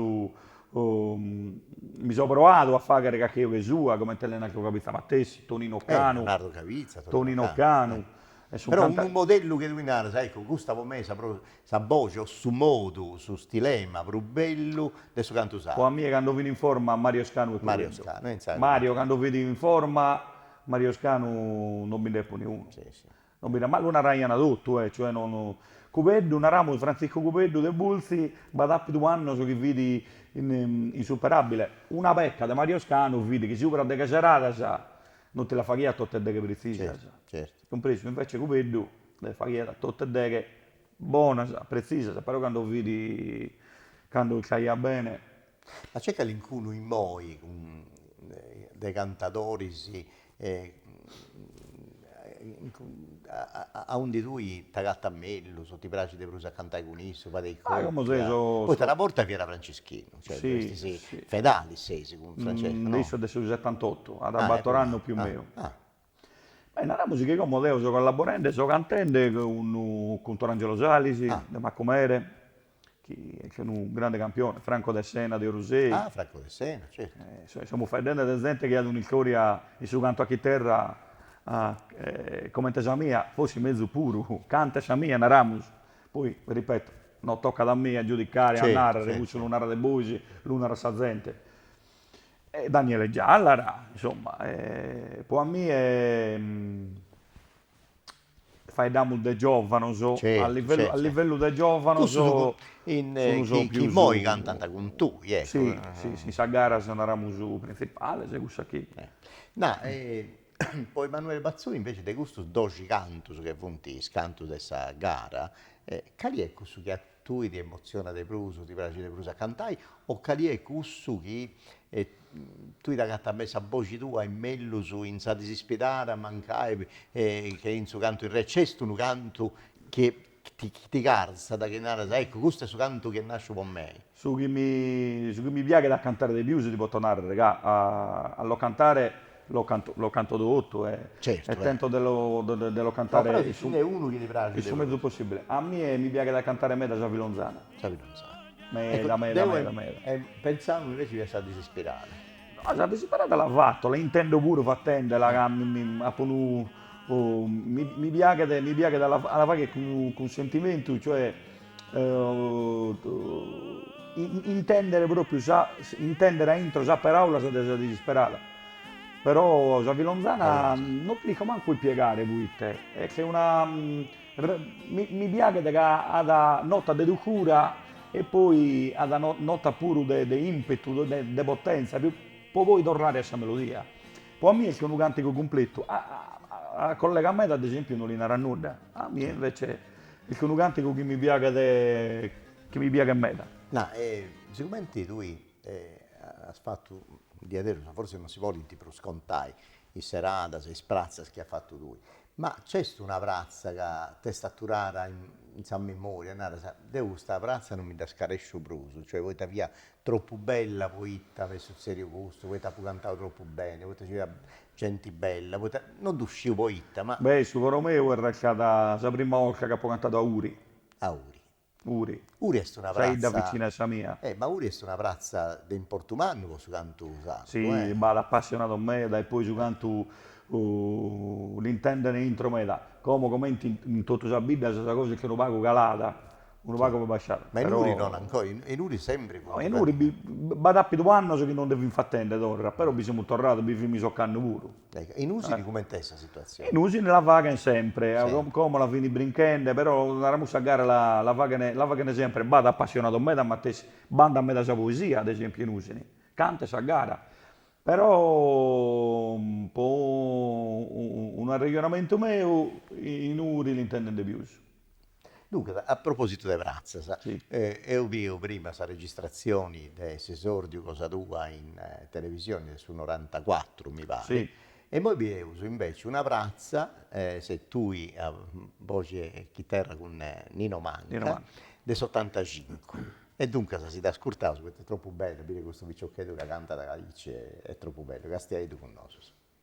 mi so proadu a fagher carchi 'oghe sua comente Lenardo Cabizza matessi, Tonino Canu, Tonino Canu, però unu modellu chi tui naras, ecco custa po mei est sa prus sa boxi o su modu su stilema prus bellu de su cantu sardu. Po a mie cando fin in forma Mario Scanu e Cubeddu, Mario cando fit in forma Mario Scanu non bi nde podiat niunu, Non bi naraus, ma lu naraiant totu, e cioè no no. Cubeddu, naramus Frantziscu Cubeddu de Bultzi, b'at àpidu annos chi fit insuperàbile. Una peca de Mario Scanu fit chi subra de deghe seradas non ti las faghiat totas deghe pretzisas, cumpresu, invece Cubeddu las faghiat totas deghe bonas, pretzisas, però cando fit, cando iscaiat bene Ma nc'est calincunu immoi de cantadoris aundi tui t'agatas mellus o ti praxit de prus a cantai cun issu, fadeis copia? Poita una borta fiat Franceschinu, cioè fedali ses cun Francesco, no? Isse est de su setantotu, at bator'annus pius o mancu. Beh naramus chi como deo so collaborende so cantende cun cun Torangelo Salis de Macumere chi est unu grande campione, Franco de Sena de Orusei, ah Franco de Sena certu, e semus faeddende de zente chi at un'istoria in su cantu a chiterra comente sa mia, forsis mezus puru, cantu sa mia naramus, poi ripeto non tocat a mie a giudicare a narrer, cussu lu narades bois, lu narat sa zente. E Daniele Giallara, insomma, poi a mie faeddamus de giovanos, a livellu de giovanos fimus sos chi immoi cantant cun tui, ecco. Si, si, in sas garas naramus printzipales cussas chi. Na, po Emanuele Bazzoni invece de custos doxi cantos chi funt is cantos de sa gara, cali est cussu chi at Tui ti emozionat de prus, ti praxit de prus a cantai o cali est cussu chi tui t'agatas me sa boxi tua mellus in sa disispidada mancai che in su cantu in re c'est unu cantu chi ti carzat, chi naras, eccu custu est su cantu chi est nasciu po mei? Su chi mi piaghet a cantare de pius ti poto narrer ca a lo cantare Lo canto lo canto totu e e tento de lo de lo cantare in su in su mezus possibile. A mie mi piaghet a cantare meda sa filonzana. Sa filonzana. Meda meda meda meda. Deo pentzau invece fiat sa disisperada. No sa disisperada la fatto, la intendo puru fattendela ca mi mi appo unu mi mi piaghet mi piaghet a la a la fagher cun cun sentimentu cioè intendere propriu sa intendere a intro sas paraulas de sa disisperada però sa filonzana no l'isco mancu ispiegare poite est una mi piaghet ca at notas de dulcura e poi at notas puru de de impetu de potenza pro poi torrare a sa melodia pro a mie est unu cantigu cumpletu a collegas medas ad esempiu no li narat nudda a mie invece Est unu càntigu chi mi piaghet chi mi piaghet meda. Na, e siguramenti tui as fatu diaderus, forsis non si podint prus contai is seradas e is pratzas chi as fatu tui, ma nc'est una pratza ca t'est aturada in sa memòria e naras, deu custa pratza non mi dda scaresciu prus, cioè poita fiat Tropu bella poita m'est sutzèdiu custu, poita apu cantau tropu beni, poita nci fiat genti bella, poita, no ddu sciu poita, ma. Beni, su coro meu est ancora a sa prima 'olta chi apu cantadu a Uri. A Uri. Uri. Uri est una pratza. Sa 'idda vicina 'e sa mia. E, ma Uri est una pratza de importu mannu po su cantu sardu. Si, b'at apassionados meda e poi su cantu l'intendent intro meda, como comente in totu sas biddas sa cosa est che unu pagu calada, unu pagu po basciare. Ma in Uri non ancora, in Uri sempri fut. No in Uri b'at apidu annos chi non nde fin fatende torra, però bi semus torrados, bi fimus ocannu puru. In Usini comente est sa situatzione? In Usini la faghen sempre, como la fin brinchende, però naramos sa gara la faghen la faghen sempre, b'at apassionados meda matessi, b'andat meda sa poesia ad esempiu in Usini, cantu a sa gara, però po un'arrejonamentu meu in Uri l'intenden de pius Duncas, a propositu de pratzas, eus biu prima sa registrazioni de s'esordiu cosa tua in televisioni de su norantacuatru, mi pari, e immoi bieus inveci una pratza, ses tui a boxi 'e chiterra cun Nino Manca, de s'otantacincu. E duncas si dd'ascurtaus poita est tropu bellu a biri custu piciocheddu ca cantat aici, est tropu bellu, castiaiddu cun nosus.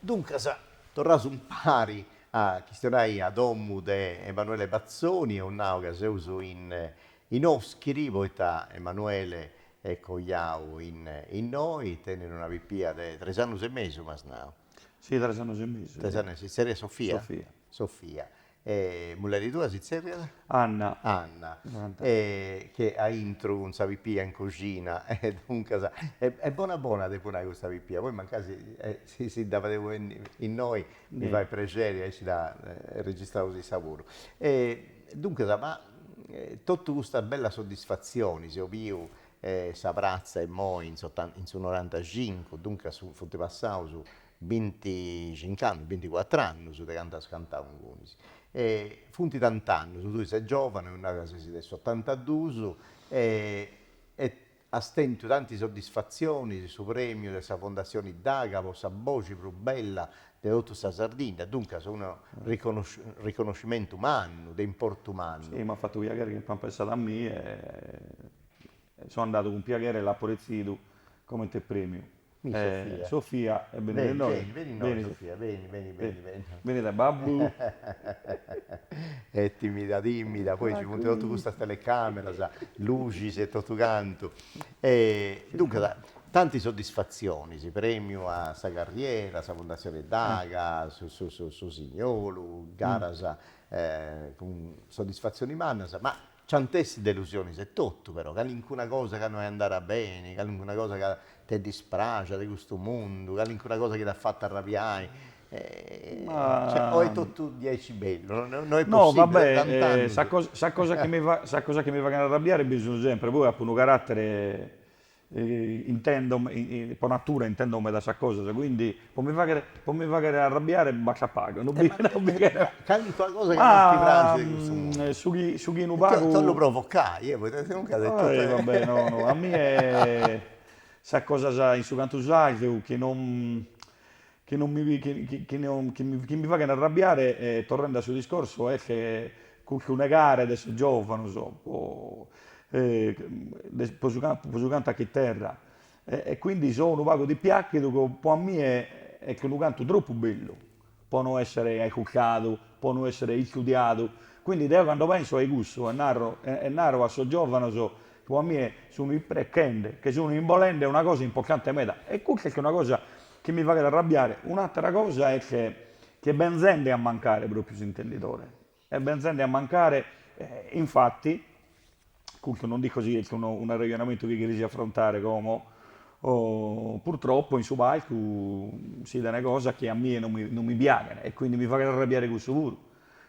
Duncas, torraus impari a chistionai a domu de Emanuele Bazzoni, eus nau ca seus in Oschiri, poita Emanuele est coiau innoi, tenit una pipia de tres annus e mesu, m'as nau. Si, tres annus e mesu. Tres annus e mesu, si tzerriat Sofia? Sofia. Sofia. E mulleri tua si tzerriat? Anna. Anna. Est aintru cun sa pipia in coxina e duncas, est bona bona depu nai custa pipia, poi mancari si si dda fadeus benni innoi mi fait prexeri aici dda registraus issa puru. E duncas, ma totu custas bellas soddisfatzionis, eus biu sa pratza immoi in su norantacincu, duncas funt passaus Binticinc'annus, binticuattr'annus de candu as cantau ingunis. E funt tant'annus, tui ses giovane, eus nau ca ses de s'ottantadus, e e as tentu tanti soddisfatzionis, su premiu de sa Fondatzioni Daga po sa boxi prus bella de totu sa Sardinna, duncas unu riconoscimentu mannu, de importu mannu. Si, m'at fatu piagheri chi apant pensadu a mie e so andadu cun piagheri e l'apo retzidu comente premiu. Mi Sofia. Sofia, e benit innoi. Beni, beni, beni innoi Sofia, beni, beni, beni, beni. Beni a babbu. Est timida, timida, poi ci funt totus custas telecameras, luxis e totu cantu. E duncas, tanti soddisfatzionis, premiu a sa carriera, a sa fundatzioni Daga, s'Usignolu, garas cun soddisfatzioni mannas, ma Nc'ant'essit delusionis etotu, però, calincuna cosa ca no est andada beni, calincuna cosa ca t'est dispraxia de custu mundu, calincuna cosa chi t'at fatu arrabiai, o est totu diaici bellu? No est possibili, vabbè. Sa cosa chi mi faghent arrabiare bi sun sempri, poi apo unu caratere Intendo, po natura intendo meda sas cosas, quindi po mi faghere po mi faghere arrabbiare basta pagu, no bi no bi cheret. Calincuna cosa chi non ti praxit de custu mundu? Ah, su chi su chi unu pagu. Ti bollu provocai, eh, poita sinuncas est totu. Vabbè, no no, a mie sas cosas in su cantu sardu chi non Chi non mi chi mi faghent arrabbiare e torrende a su discorsu est che custu negare de sos giovanos po po su campu po su cantu a chiterra e quindi so unu pagu dispiaghidu ca po a mie est unu cantu troppu bellu po no essere aiscultadu po no essere istudiadu quindi deo cando penso a cussu e narro e naro a sos giovanos po a mie sun isprechende che sun imbolende una cosa importante meda e custa est una cosa Chi mi faghet arrabbiare un'àtera cosa est che ch'est benzende a mancare pròpiu s'intendidore, est benzende a mancare, infati, custu non isco si est unu arrejonamentu chi cherias afrontare como, purtroppo in su palcu si tenet cosas chi a mie non mi non mi piaghen e quindi mi faghet arrabbiare cussu puru,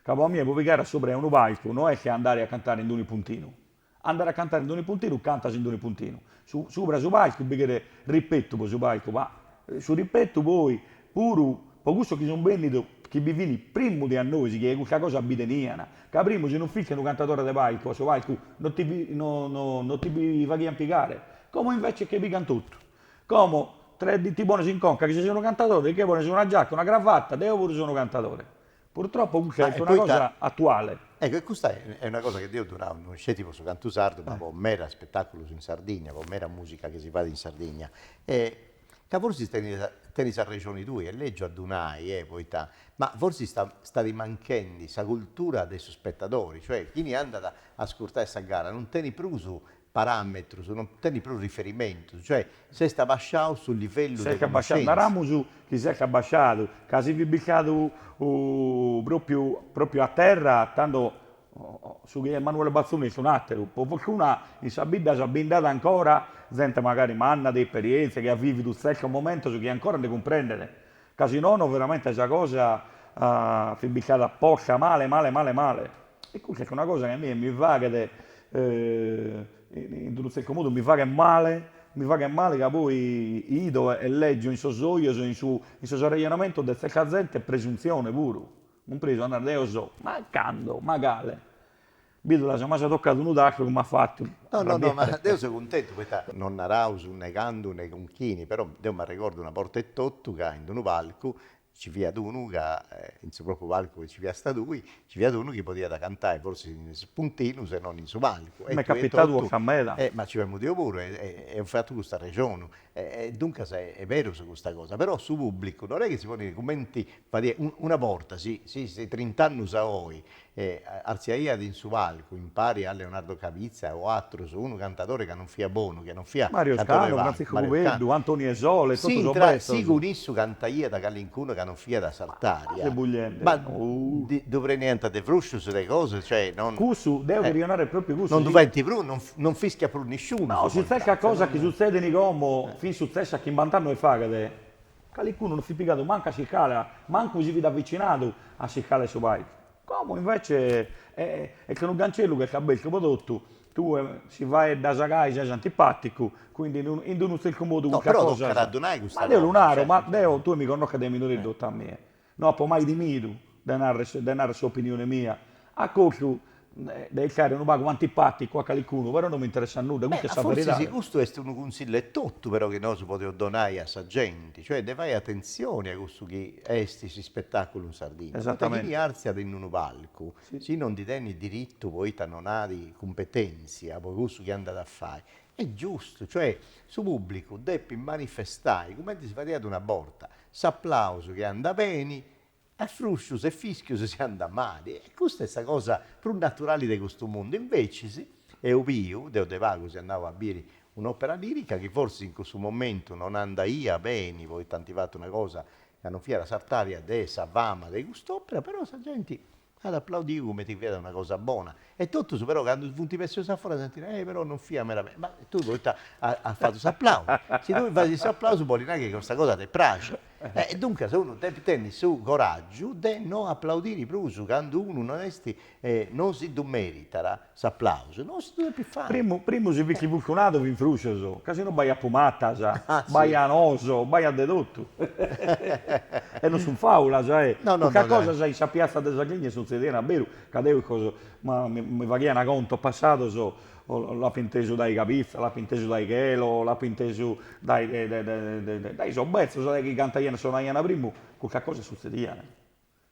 ca po a mie po pigare a subra 'e unu palcu no est che andare a cantare in d'un'ispuntinu, Andare a cantare in d'un'ispuntinu cantas in d'un'ispuntinu su subra su palcu bi cheret rispetu po su palcu ma su rispetu poi puru po cussos chi sun bennidos chi bi fin primu de a nois chi custa cosa bi tenian ca primu si non fisti unu cantadore de palcu a su palcu non ti no no non ti bi faghian pigare como invece che pigan totu como tres ti pones in conca chi ses unu cantadore ti che pones una giacca una cravatta deo puru so unu cantadore Purtroppo custa est una cosa atuale. Ecco, e custa est una cosa chi deo ddu nau, non sceti po su cantu sardu, ma po meda spetàculus in Sardigna, po meda mùsica chi si fait in Sardigna, ca forsis tenis tenis arrexoni tui, est lègiu a ddu nai, poita, ma forsis sta stat manchendi sa cultura de su spetadori, cioè chini andat a ascurtai sa gara non tenit prus paràmetrus, non tenit prus riferimentus, cioè s'est abassiau su livellu de connoscèntzia. Naramus chi s'est abassiadu, ca si fit bistadu pròpiu pròpiu a terra tando su chi est Emanuele Bazzoni est un'àteru, po fortuna in sas biddas bi nd'at ancora zente magari manna, de esperièntzia, chi at vìvidu tzertos momentos chi ancora nde cumprendet Ca si nono veramente sa cosa fit bistada posta male male male male. E custa est una cosa chi a mie mi faghet in unu zertu modu mi faghet male, mi faghet male ca poi 'ido e leggio in sos ojos e in sos arrejonamentos de zerta zente presunzione puru, cumpresu a narrer deo so, ma cando, ma cale. Bidu la seu mai tocadu unu tastu comu at fatu Rabietti. Ma deu seu cuntentu poita, non naraus ne candu ne cun chini, però deu m'arregordu una borta etotu ca in unu palcu nci fiat unu ca, in su propriu palcu chi nci fiast tui, nci fiat unu chi podiat cantai forsis in is spuntinus e non in su palcu. M'est capitadu a ca meda. Ma nci femu deu puru e eus fatu custu arrexonu. E duncas est berus custa cosa, però su pubblicu non est chi si ponit cumenti fadiat, una borta, si si trint'annus a oi E artziaiat in su palcu, impari a Leonardo Cabizza o atrus, unu cantadori ca non fiat bonu, chi non fiat Mario Scanu, Frantziscu Cubeddu, Antoni Desole e totu sos betzos, si cun issu cantaiat calincunu ca non fiat a s'artària. Ma ddu preniant de fruscius de cosa, cioè non. Cussu, deo cheria narrer propriu cussu, Non ddu faint prus, non non fischiat prus nisciunu No, si tzertas cosas chi sutzedin como fin sutzessas chimbant'annos faghet. Calicunu non fit pigadu mancu a sicale, mancu si fit avvicinadu a s'iscala 'e su palcu. Como invece est unu cancellu chi est abertu pro totu, tue si faeddas a gai ses antipaticu, quindi in d-unu tzertu modu. No, però tocat a ddu nai custa cosa. Ma deo lu naro, ma deo, tue mi connosches dae minore etotu a mie. No apo mai timidu de narrer de narrer s'opinione mia, a costu de essere unu pagu antipaticu a calicunu, però no mi interessat nudda, custa est sa veridade. Forsis custu est unu cunsillu etotu però chi nosu podeus donai a sa genti, cioè de fai atentzioni a cussu chi est s'ispetaculu in Sardinna, poita chini artziat in unu palcu, si no ndi tenit diritu poita non at cumpetenzia po cussu chi andat a fai, Est giustu, cioè, su pùblicu depit manifestai, cumenti si fadiat una borta, s'aplausu chi andat beni, a fruscius e fischius si andat mali. E custa est sa cosa prus naturali de custu mundu. Invecis, eo biu, deo de pagu seu andau a biri un'òpera lìrica chi forsis in cussu momentu non andaiat beni poita ant fatu una cosa ca non fiat a s'artària de sa fama de cust'òpera, però sa genti At aplaudiu cumenti fiat una cosa bona. E totus però candu funt bessius a foras ant nau, eh, però non fiat meda beni. Ma tui poita as fatu s'aplausu? Si tui fasis s'aplausu boli nai chi custa cosa ti praxit. E duncas unu depit tenni su coràgiu de no aplaudiri prus candu unu non est, non si ddu meritat. S'aplausu non si ddu depit fai. Primu si fisti furtunadu fin fruscios, ca si no b'aiat pumatas, b'aian oos, b'aiat de totu. E non sun fàulas, custas cosas in sa piatza de Sardigna suntzedian a beru, ca deu mi faghian contos passados, l'apo intesu dae Cabizza, l'apo intesu dae Chelo, l'apo intesu dae dae sos betzos, dae chi cantaian e sonaian primu, custas cosas suntzedian.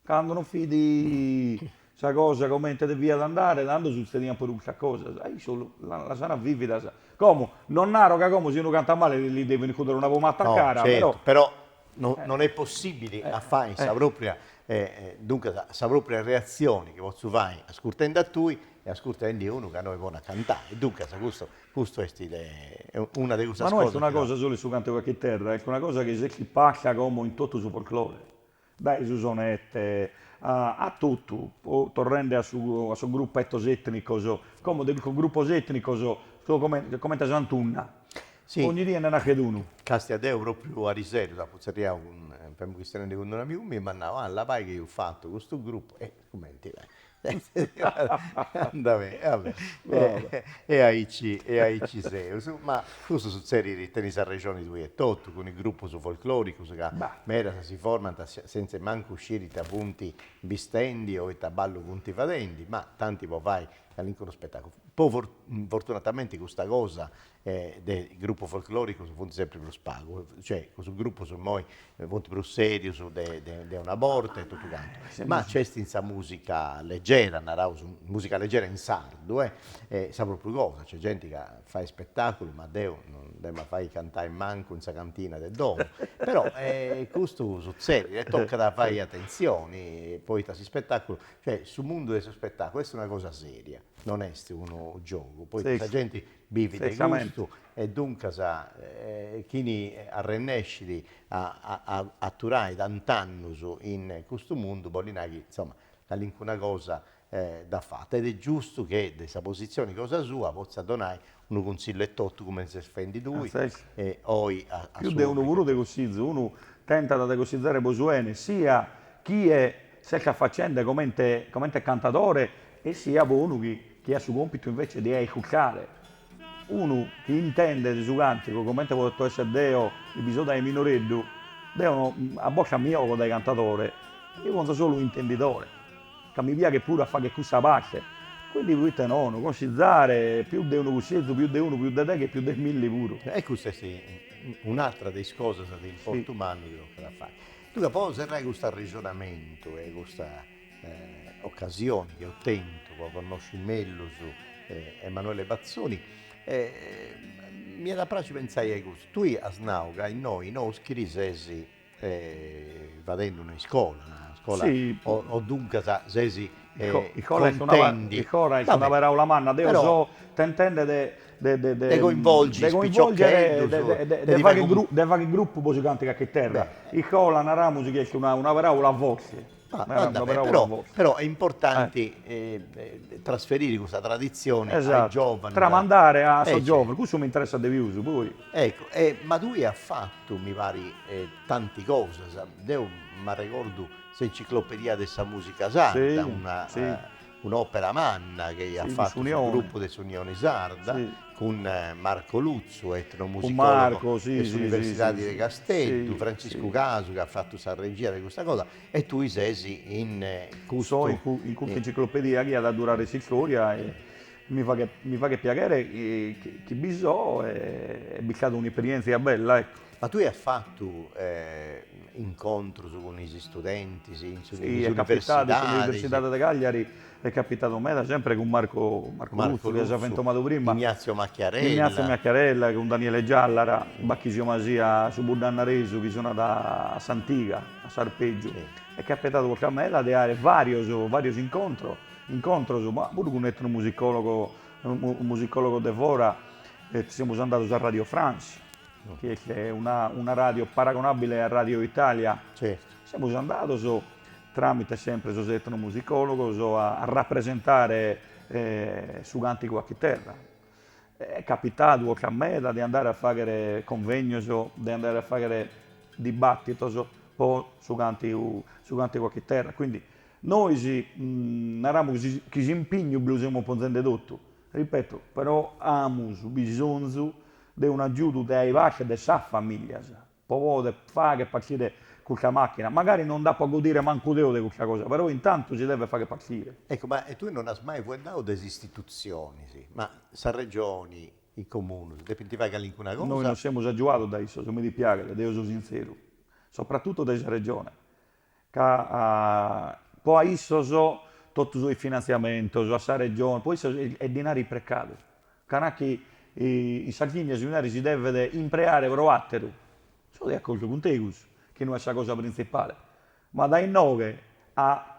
Cando non fit sa cosa comente deviat andare, tando sutzediant puru custas cosas. E issos las an vividas. Como, non naro ca como si unu cantat male li devin iscudere una pumata a cara, però. No, certu, però non est possibile a fai sa propria, duncas, sa propria reatzioni chi potzu fai ascurtendi a tui e ascurtendi unu ca no est bonu a cantai. Duncas, custu, custu est una de cussas cosas. Ma no est una cosa solu in su càntigu a chiterra, est una cosa chi s'est isparta como in totu su folklore. dae su sonette a a totu, poi torrende a su a sos gruppetos etnicos, como de custos gruppos etnicos sun comente comente a s'antunna, ogni die nde naschet unu. Castia deo propriu ariseru apo tzerriadu cun, femu chistionendi cun unu amigu miu, m'at nau, ah labai chi eus fatu custu gruppu, Cumenti est. Andà beni, va beni. E aici e aici seus. Ma custu sutzerit, tenis arrexoni tui etotu, cun is grupus folclòricus ca medas si formant sentz'e mancu sciri ita funt bistendi o ita ballu funt fadendi, ma tanti po fai calincunu spetàculu. Però fortunatamenti custa cosa de grupus folcloricus funt sempri prus pagu, cioè cussus grupus immoi funt prus serius de una borta e totu cantu, ma nc'est in sa musica leggera, naraus musica leggera in sardu est sa propriu cosa, nc'est genti ca fait spetaculus, ma deu non dd'emu a fai cantai mancu in sa cantina de domu, però custu sutzedit e tocat a fai atentzioni, poita s'ispetaculu, cioè su mundu de su spetaculu est una cosa seria, non est unu giogu, poita sa genti Bivit de custu e duncas chini arrennescit a aturai tant'annus in custu mundu bollit nai chi insoma calincuna cosa dd'at fata ed est giustu chi de sa positzioni cosa sua potzat donai unu cunsillu etotu cumenti ses fendi tui oi a su pubblicu. Pius de unu, puru de cussizu unu tentat de cussizare po su 'ene sia chie est ca faghende comente comente cantadore e siat unu chi chi at su compitu invece de iscurtare, unu chi intendet su cantigu comente poto esser deo chi bi so dae minoreddu, deo no a bocca mia apo dae cantadore, eo so solu intendidore, ca mi piaghet puru a fagher cussa parte, quindi proite non consizzare pius de unu cussizu, pius de unu, pius de deghe, pius de milli puru. E custa est un'atra de is cosas de importu mannu chi tocat fagher. Duncas, po serrai cust'arrexonamentu e custa ocasioni chi eus tentu po connosci mellus Emanuele Bazzoni, m'iat a praxi pentzai a custu. Tui as nau ca innoi in Oschiri ses fadendi una iscola, una iscola, e duncas ses cuntentu. Icora est una paraula manna, deu seu tentendi de de coinvolgi is piciocheddus, de faghi grupu po su cantu a chiterra, icola naramus chi est una paraula forti, però est importanti trasferiri custa traditzioni a is giovanus, tramandare a sos giovanus, cussu mi interessat de pius poi. Eccu, e ma tui as fatu mi pari tanti cosas, deu m'arregordu s'enciclopedia de sa musica sarda, una Un'òpera manna chi at fatu su grupu de s'Unioni Sarda cun Marco Lutzu, etnomusicòlogu de s'Universidadi de Casteddu, Franciscu Casu chi at fatu sa regia de custa cosa e tui ses in custu. So in custa enciclopedia chi at a durare s'istòria e mi faghet mi faghet piaghere chi bi so e est stata un'esperièntzia bella ecco. Ma tue as fatu incontrus cun is istudentis in su in is universidadis? In s'universidadi de Cagliari est capitadu meda, sempri cun Marco Marco Lutzu, chi as fentomadu prima, Ignazio Macchiarella, Ignazio Macchiarella, cun Daniele Giallara, Bachisio Masia, su bunnannaresu chi sonat a s'antiga, a s'arpeggiu, est capitadu oca meda de aer varios varios incontro incontros, ma puru cun etnomusicologo musicologo de fora, semus andados a Radio France, chi est una ràdio paragonàbile a Radio Italia, semus andados, tràmite semper sos etnomusicòlogos, a rapresentare su càntigu a chiterra. Est capitadu oca meda de andare a fàghere convènios, de andare a fàghere dibàtitos pro su càntigu su càntigu a chiterra. Quindi nois naramus chi s'impignu bi lu semus ponzende totu, ripeto, però amus bisonzu de un'agiudu dae basciu e de sas famìlias pro pòdere fàghere partire custa màchina. Magari non nd'apo a godire mancu deo de custa cosa, però intantu si devet fàghere partire. Ecco, ma e tue non as mai fueddadu de s'istitutzionis? Ma sa Regioni, is Comunos, depint fai calincuna cosa? Nois non semus agiuados dae issos, mi dispiaghet, deo so sintzeru, sopratutto dae sa Regione, ca po a issos totu sos finantziamentos, a sa Regione, po issos est dinari isprecadu, ca nachi in Sardigna su dinari si devet impreare pro àteru. So de acordu cun tegus chi no est sa cosa printzipale, ma dae inoghe a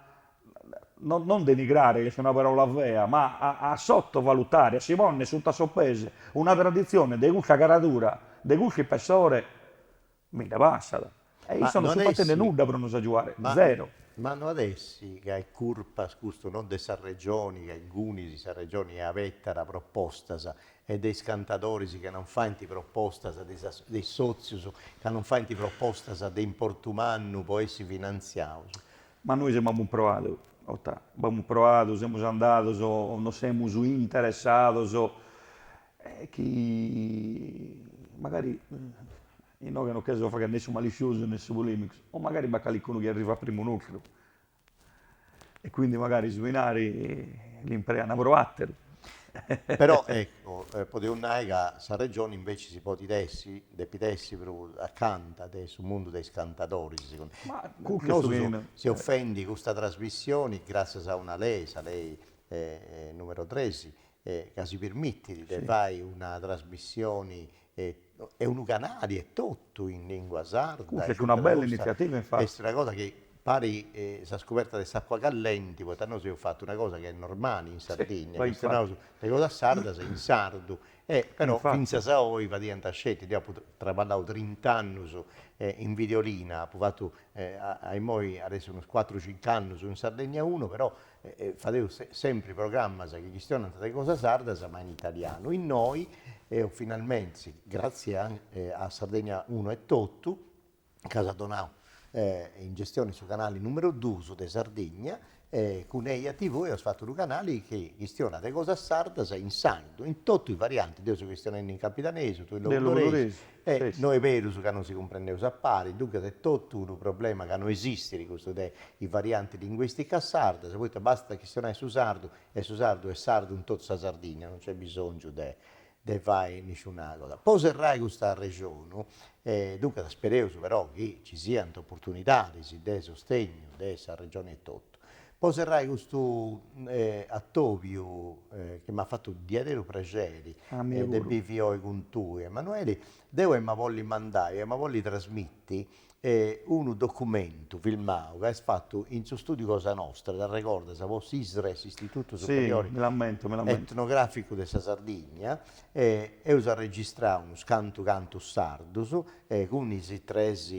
non denigrare, chi est una paràula fea, ma a sotovalutare, a si ponner suta a sos pes una traditzione de custa caradura, de custu ispessore, bi nde passat. E issos non sunt fatende nudda pro nos agiuare, zero. Ma no at essi ca est curpa custu non de sa Regioni ca ingunis sa Regioni e abetat propostas e de is cantadoris ca non faint propostas, de sas de is sotzius ca non faint propostas de importu mannu po essi finantziaus? Ma nois b'amus proadu, ota, b'amus proadu, semus andados, nos semus interessados Est chi magari inoghe non cherzo fagher ne su malitziosu ne su polemicu, o magari b'at calicunu chi arrivat primu nostru, e quindi magari su dinari l'impreana pro ateru. Però ecco, podeus nai ca sa Regioni inveci si podit essi, depit essi prus acanta de su mundu de is cantadoris, nosu seus fendi custa trasmissioni, gratzias a una lei, sa lei numero tres, ca si permitit de fai una trasmissioni e unu canali etotu in lingua sarda. Custa est una bella iniziativa infati. Est una cosa chi parit sa scoberta de s'acua callenti, poita nosu eus fatu una cosa chi est normali in Sardinnia, chi est naus de cosas sardas in sardu, e però fintzas a oi fadiant sceti, deu apu traballau trint'annus in Videolina, apu fatu a imoi at essi unus cuatru cinc'annus in Sardegna Uno, però Fadeus sempri programmas chi chistionant de cosas sardas ma in italianu, innoi eus finalmente, gratzie a Sardegna Uno e totu, ca s'at donau in gestione su canali numeru duus de Sardegna, cun Eia TV eus fatu unu canali chi chistionat de cosas sardas in sardu, in totu is variantis, deu seu chistionendi in capidanesu, tui in logudoresu, E no est berus ca no si cumprendeus a pari, duncas est totu unu problema ca no esistit custu de is variantis linguìsticas sardas, poita bastat a chistionai su sardu e su sardu est sardu in totu sa Sardìnnia, no nc'est bisòngiu de de fai nisciuna cosa. Po serrai custu arrexonu, e duncas spereus però chi nci siant oportunidadis de sostegnu de sa Regioni etotu. Po serrai custu atobiu chi m'at fatu diaderu praxeri de bivi oi cun tui Emanueli, deu emu a bolli mandai, emu a bolli trasmitti unu documentu filmau ca est fatu in su studiu cosa nostra, t'arregordas, po s'ISRE, s'Istitutu Superiori Etnograficu de sa Sardigna, E eus arregistrau unus cantu cantus sardus, e cun is tres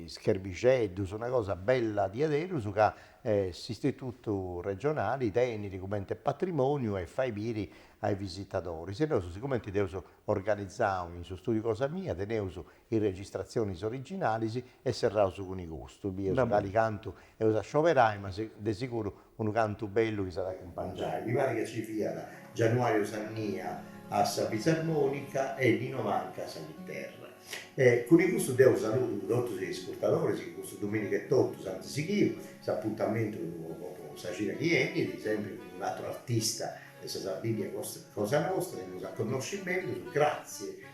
scherbixeddus, una cosa bella diaderus ca s'Istitutu regionali tenit cumenti e patrimoniu e fait biri a is visitadoris. E nosu sigumenti dd'eus organizau in su studiu cosa mia, teneus is registratzionis originalis e serraus cun custu, bieus cali cantu eus a scioberai ma de siguru unu cantu bellu chi s'at a acumpangiai, mi parit ca ci fiat Gianuario Sannia a sa fisarmonica e Nino Manca a sa chiterra. E cun custu deu saludu totus is ascurtadoris chi custu dominigu etotu s'ant sighiu s'apuntamentu po po sa cida chi benit, sempri cun un'aturu artista de sa Sardigna cosa nostra chi nos eus a connosci mellus, gratzie.